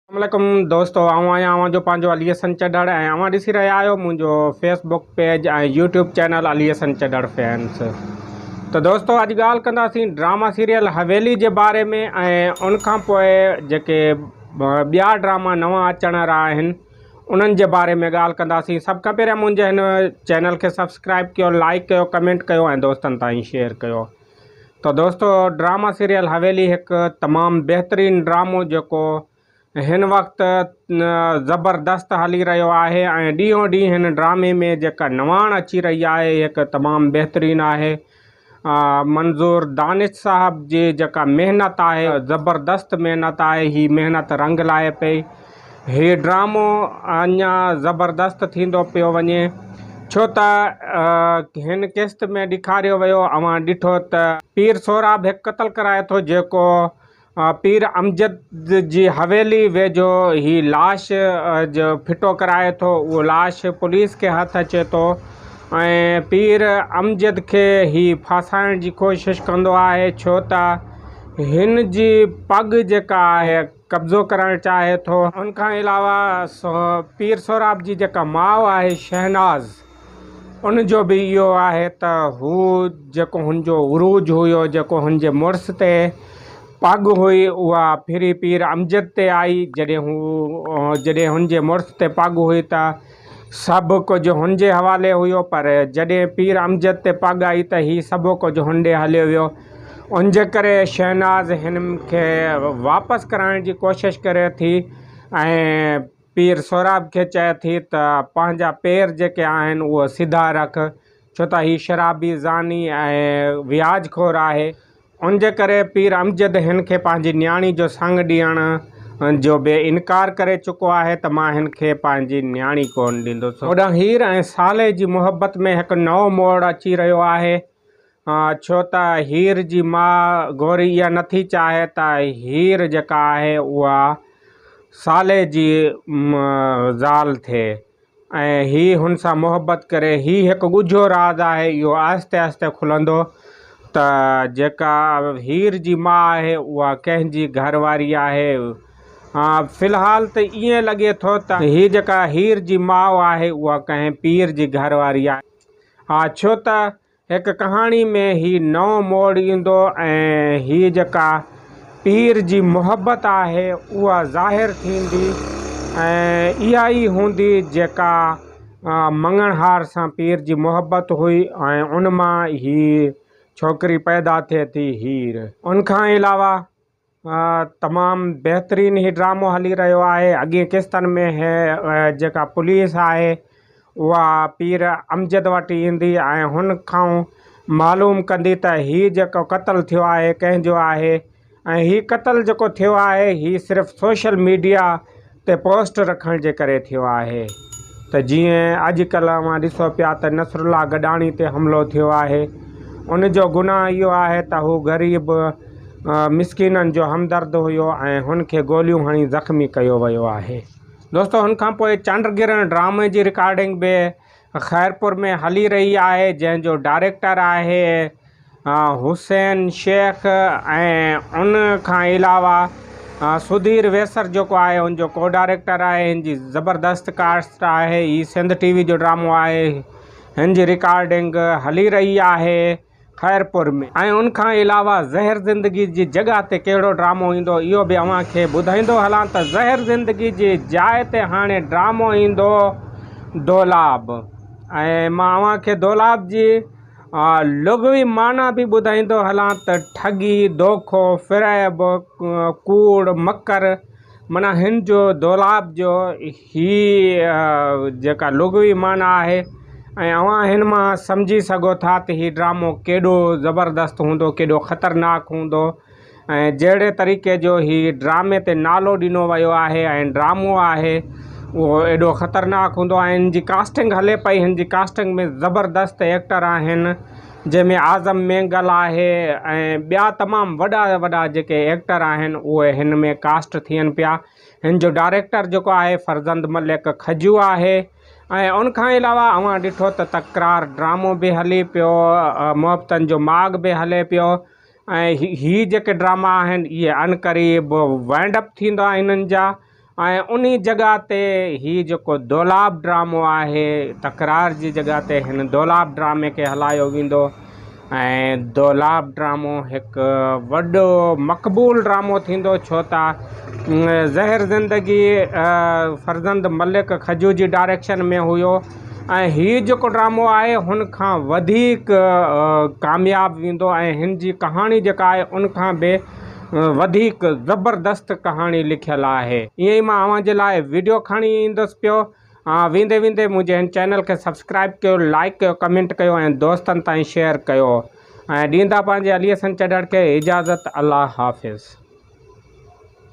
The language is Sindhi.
اسلام عليڪم دوستو آئون آهيان اوهان جو پنهنجو علي حسن چڍڙ ۽ اوهان ڏسي رهيا آهيو منهنجو Facebook page ۽ YouTube channel Ali Hassan Chadhar fans ته دوستو اڄ ڳالهه ڪنداسين ڊراما سيريل حويلي جي باري ۾ ۽ ان کان پوء جيڪي ٻيا ڊراما نوان اچڻ وارا آهن انهن جي باري ۾ ڳالهه ڪنداسين سڀ کان پهريان منهنجي هن چينل کي سبسڪرائب ڪيو لائڪ ڪيو ڪمينٽ ڪيو ۽ دوستن تائين شيئر ڪيو ته دوستو ڊراما سيريل حويلي هڪ تمام بهترين ڊرامو جيڪو هن وقت زبردست هلي رهيو آهي ۽ ڏينهون ڏينهن هن ڊرامي ۾ جيڪا نواڻ اچي رهي آهي هڪ تمام بهترين آهي منظور دانش صاحب جي جيڪا محنت آهي زبردست محنت آهي هي محنت رنگ لائي پئي هي ڊرامو اڃا زبردست ٿيندو پيو وڃي ڇو ته هن قسط ۾ ڏيکاريو ويو اوهان ڏٺو ته پير سهراب هڪ قتل ڪرائي ٿو جيڪو پير امجد جي حويلي ويجهو هي لاش جو ڦٽو ڪرائي ٿو اهو لاش پوليس کي هٿ اچي ٿو ۽ پير امجد کي هي ڦاسائڻ جي ڪوشش ڪندو آهي ڇو ته هن جي پڳ جيڪا آهي قبضو ڪرڻ چاهي ٿو. ان کان علاوه پير سهراب جي جيڪا ماء آهي شهناز ان جو به اهو آهي ته هو جيڪو هن جو عروج هيو جيڪو هن جي مڙس تي پڳ هئي اها ڦري پير امجد تي آئي جڏهن هو جڏهن هن جي مڙس تي پڳ هئي ته سڀ ڪجهه هن جي حوالي هيو، پر جڏهن پير امجد تي پڳ آئي ته هي سڀ ڪجهه هن ڏي هليو ويو. ان جي ڪري شهناز هن کي واپس ڪرائڻ جي ڪوشش ڪري ٿي ۽ پير سهراب کي چئي ٿي ته پنهنجا پير جيڪي آهن اهي سڌا رک، ڇو ته هي شرابي، زاني ۽ وياج خور آهي. ان جي ڪري پير امجد هن کي پنهنجي نياڻي جو سڱ ڏيڻ جو به انڪار ڪري چڪو آهي ته مان هن کي پنهنجي نياڻي ڪونه ڏيندس. هوڏانهن هير ۽ صالح جي محبت ۾ هڪ نئون موڙ اچي رهيو آهي. ڇو ته هير جي ماء گوري اها نه ٿي چاهي ته هير جيڪا آهي اها صالح جي زال ٿئي. ۽ هي هن سان محبت ڪري. هي هڪ ڳجهو راز آهي، اهو آهستي آهستي کلندو ته جيڪا هير جي ماء آهي اها ڪنهن جي گهر واري آهي. ها في الحال ته ائين لڳي ٿو ته هي جيڪا هير جي ماء آهي اها ڪنهن پير جي گهر واري آهي. ها ڇو ته هڪ ڪهاڻي ۾ هي نئون موڙ ايندو ۽ هي جيڪا پير جي محبت آهي اها ظاهر ٿيندي ۽ اها ئي هوندي جيڪا مڱڻهار سان پير جي محبت هئي ۽ ان مان هي ڇوڪري پيدا ٿئي ٿي هير ان کان علاوه تمام بهترين هي ڊرامو هلي رهيو آهي اڳي قسطن ۾ هي جيڪا پوليس آهي اها پير امجد وٽ ايندي ۽ هن کائون معلوم ڪندي ته هي جيڪو قتل ٿيو آهي ڪنهن جو آهي ۽ هي قتل جيڪو ٿيو آهي هي صرف سوشل ميڊيا تي پوسٽ رکڻ جي ڪري ٿيو آهي ته جيئن اڄ ڪلهه اوهان ڏسو پيا ته نصرالله گڏاڻي تي حملو ٿيو آهي ان جو گناهه اهو آهي ته هو غريب مسڪينن جو همدرد هيو ۽ هن کي گوليون هڻي زخمي ڪيو ويو آهي دوستو هن کان پوء چنڊ گرهڻ ڊرامي جي رڪارڊنگ به خيرپور ۾ هلي رهي آهي جنهن جو ڊائريڪٽر آهي حسين شيخ ۽ ان کان علاوه سڌير ويسر جيڪو آهي ان جو ڪو ڊائريڪٽر آهي ان جي زبردست ڪاسٽ آهي هي سنڌ ٽي وي جو ڊرامو آهي هن جي رڪارڊنگ هلي رهي آهي خيرپور ۾ ۽ ان کان علاوه زهر زندگي جي جڳهه تي ڪهڙو ڊرامو ايندو اهو به اوهان کي ٻڌائيندو هلان ته زهر زندگي جي جاء تي هاڻي ڊرامو ايندو دولاب ۽ مان اوهان کي دولاب جي لغوي معنيٰ به ٻڌائيندو هلان ته ٺڳي، دوکو، فريب، ڪوڙ، مڪر معنيٰ هن جو دولاب جو هي جيڪا لغوي معنيٰ آهي ۽ اوهان هن مان سمجهي سگهو ٿا ته هي ڊرامو ڪيڏو زبردست هوندو ڪيڏو خطرناڪ هوندو ۽ جهڙي طريقي جو هي ڊرامي تي نالو ڏنو ويو آهي ۽ ڊرامو آهي اهو ايڏو خطرناڪ هوندو ۽ هن جي ڪاسٽنگ هلي پئي هن جي ڪاسٽنگ ۾ زبردست ايڪٽر آهن جنهن ۾ اعظم مينگل آهي ۽ ٻيا تمام وڏا وڏا جيڪي ايڪٽر آهن اهي هن ۾ ڪاسٽ ٿين پيا هن جو ڊائريڪٽر جيڪو آهي فرزند ملڪ کجو آهي ۽ ان کان علاوه اوهان ڏٺو ته تڪرار ڊرامو به هلي پيو محبتن جو ماڳ به هلي پيو ۽ هي جيڪي ڊراما آهن اهي ان قريب وائنڊ اپ ٿيندا هنن جا ۽ ان جڳهه تي هي جيڪو دولاب ڊرامو آهي تڪرار جي جڳهه تي هن دولاب ڊرامي کي هلايو ويندو ۽ دولاب ڊرامو هڪ وڏو مقبول ڊرامو ٿيندو ڇو ته زهر زندگي فرزند ملڪ کجو جي ڊائريڪشن ۾ هيو ۽ هي جيڪو ڊرامو آهي هن کان وڌيڪ ڪامياب ويندو ۽ هن جي ڪهاڻي جيڪا آهي ان کان به وڌيڪ زبردست ڪهاڻي لکيل آهي ائين ئي مان اوهان جي لاء وڊيو کڻي ايندس پيو ها ويندي ويندي منهنجي هن چينل کي سبسڪرائيب ڪيو لائيڪ ڪيو ڪمينٽ ڪيو ۽ دوستن تائين شيئر ڪيو ۽ ڏيندا پنهنجي علي حسن چڍڙ کي اجازت الله حافظ.